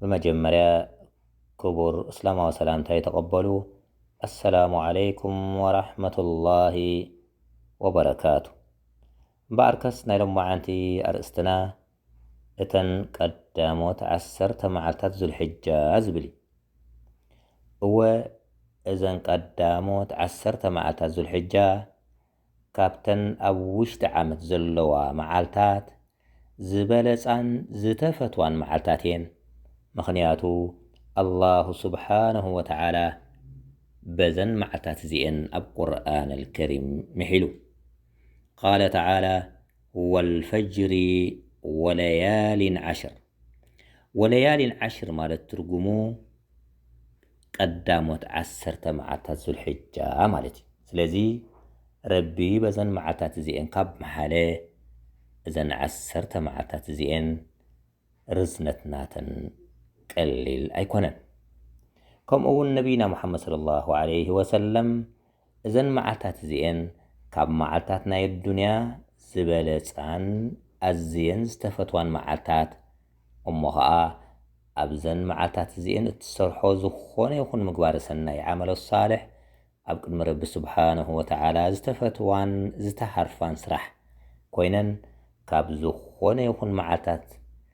ብመጀመርያ ክቡር እስላማዊ ሰላምታይ ተቀበሉ ኣሰላሙ ዓለይኩም ወራሕመቱላሂ ወበረካቱ እምበኣርከስ ናይ ሎማዓንቲ ኣርእስትና እተን ቀዳሞት ዓሰርተ መዓልታት ዙልሕጃ ዝብል እዩ እወ እዘን ቀዳሞት ዓሰርተ መዓልታት ዙልሕጃ ካብተን ኣብ ውሽጢ ዓመት ዘለዋ መዓልታት ዝበለጻን ዝተፈትዋን መዓልታት እየን፣ ምኽንያቱ ኣላሁ ሱብሓነሁ ወተዓላ በዘን መዓልታት እዚኤን ኣብ ቁርኣን ኣልከሪም ምሒሉ፣ ቃለ ተዓላ ወልፈጅሪ ወለያሊን ዓሽር፣ ወለያሊን ዓሽር ማለት ትርጉሙ፣ ቀዳሞት ዓሰርተ መዓልታት ዙልሒጃ ማለት እዩ። ስለዚ ረቢ በዘን መዓልታት እዚኤን ካብ መሓለ፣ እዘን ዓሰርተ መዓልታት እዚኤን ርዝነት ናተን ቀሊል ኣይኮነን። ከምኡ'ውን ነብይና ሙሓመድ ሰለላሁ ዓለይሂ ወሰለም እዘን መዓልታት እዚኤን ካብ መዓልታት ናይ ኣዱንያ ዝበለጻን ኣዝየን ዝተፈትዋን መዓልታት እሞ ኸኣ ኣብዘን መዓልታት እዚኤን እትሰርሖ ዝኾነ ይኹን ምግባረ ሰናይ ዓመለ ሷልሕ ኣብ ቅድሚ ረቢ ሱብሓነሁ ወተዓላ ዝተፈትዋን ዝተሃርፋን ስራሕ ኮይነን ካብ ዝኾነ ይኹን መዓልታት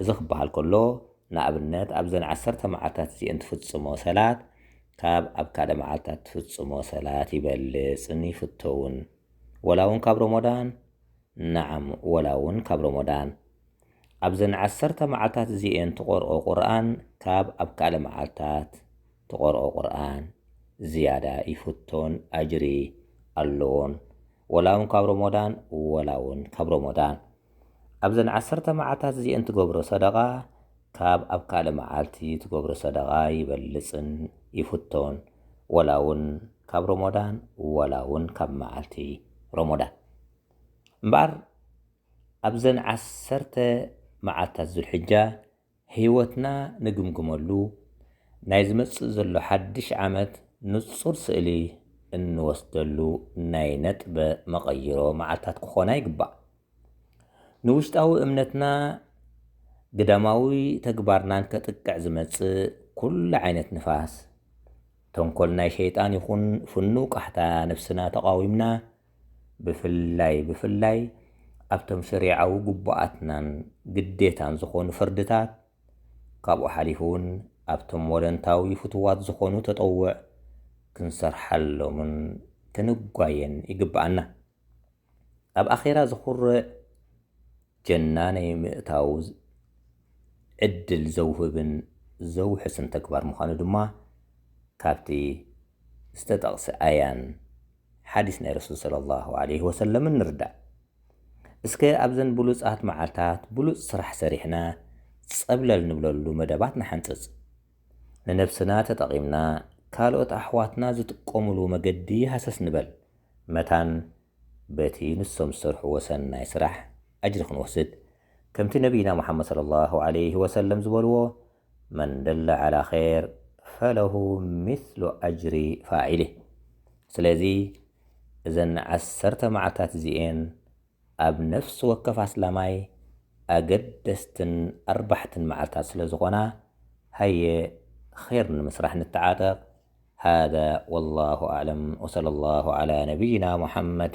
እዚ ክበሃል ከሎ ንኣብነት ኣብዘን ዓሰርተ መዓልታት እዚኤን ትፍጽሞ ሰላት ካብ ኣብ ካልእ መዓልታት ትፍጽሞ ሰላት ይበልጽን ይፍቶውን ወላ ውን ካብ ሮሞዳን ናዓም ወላ ውን ካብ ሮሞዳን ኣብዘን ዓሰርተ መዓልታት እዚኤን ትቆርኦ ቁርኣን ካብ ኣብ ካልእ መዓልታት ትቀርኦ ቁርኣን ዝያዳ ይፍቶን ኣጅሪ ኣሎዎን ወላ ውን ካብ ሮሞዳን ወላ ውን ካብ ሮሞዳን ኣብዘን ዓሰርተ መዓልታት እዚኤን ትገብሮ ሰደቃ ካብ ኣብ ካልእ መዓልቲ ትገብሮ ሰደቃ ይበልጽን ይፍቶን ወላ ውን ካብ ሮሞዳን ወላ ውን ካብ መዓልቲ ሮሞዳን እምበኣር ኣብዘን ዓሰርተ መዓልታት ዙልሕጃ ህይወትና ንግምግመሉ፣ ናይ ዝመጽእ ዘሎ ሓድሽ ዓመት ንጹር ስእሊ እንወስደሉ ናይ ነጥበ መቐይሮ መዓልታት ክኾና ይግባእ። ንውሽጣዊ እምነትና ግዳማዊ ተግባርናን ከጥቅዕ ዝመጽእ ኩሉ ዓይነት ንፋስ፣ ተንኮል ናይ ሸይጣን ይኹን ፍኑው ቃሕታ ነብስና ተቓዊምና ብፍላይ ብፍላይ ኣብቶም ሸሪዓዊ ግቡኣትናን ግዴታን ዝኾኑ ፍርድታት፣ ካብኡ ሓሊፉ ውን ኣብቶም ወለንታዊ ፍቱዋት ዝኾኑ ተጠውዕ ክንሰርሓሎምን ክንጓየን ይግበኣና። ኣብ ኣኼራ ዘኹርዕ ጀና ናይ ምእታው ዕድል ዘውህብን ዘውሕስን ተግባር ምዃኑ ድማ ካብቲ ዝተጠቕሰ ኣያን፣ ሓዲስ ናይ ረሱል ሰለሏሁ ዓለይሂ ወሰለም ንርዳእ። እስከ ኣብዘን ብሉጻት መዓልታት ብሉጽ ስራሕ ሰሪሕና ጸብለል ንብለሉ መደባት ንሓንጽጽ። ንነብስና ተጠቒምና ካልኦት ኣሕዋትና ዝጥቀሙሉ መገዲ ሃሰስ ንበል። መታን በቲ ንሶም ዝሰርሕዎ ሰናይ ስራሕ ኣጅሪ ክንወስድ። ከምቲ ነብይና ሙሓመድ ሰለሏሁ ዓለይሂ ወሰለም ዝበልዎ፣ መን ደለ ዐላ ኼር ፈለሁ ሚስሉ ኣጅሪ ፋዒሊህ። ስለዚ እዘን ዐሰርተ መዓልታት እዚኤን ኣብ ነፍሲ ወከፍ ኣስላማይ ኣገደስትን ኣርባሕትን መዓልታት ስለ ዝኾና ሃየ ኼር ንምስራሕ ንተዓጠቕ። ሃዛ ወላሁ ኣዕለም ወሰለላሁ ዐላ ነብይና ሙሐመድ።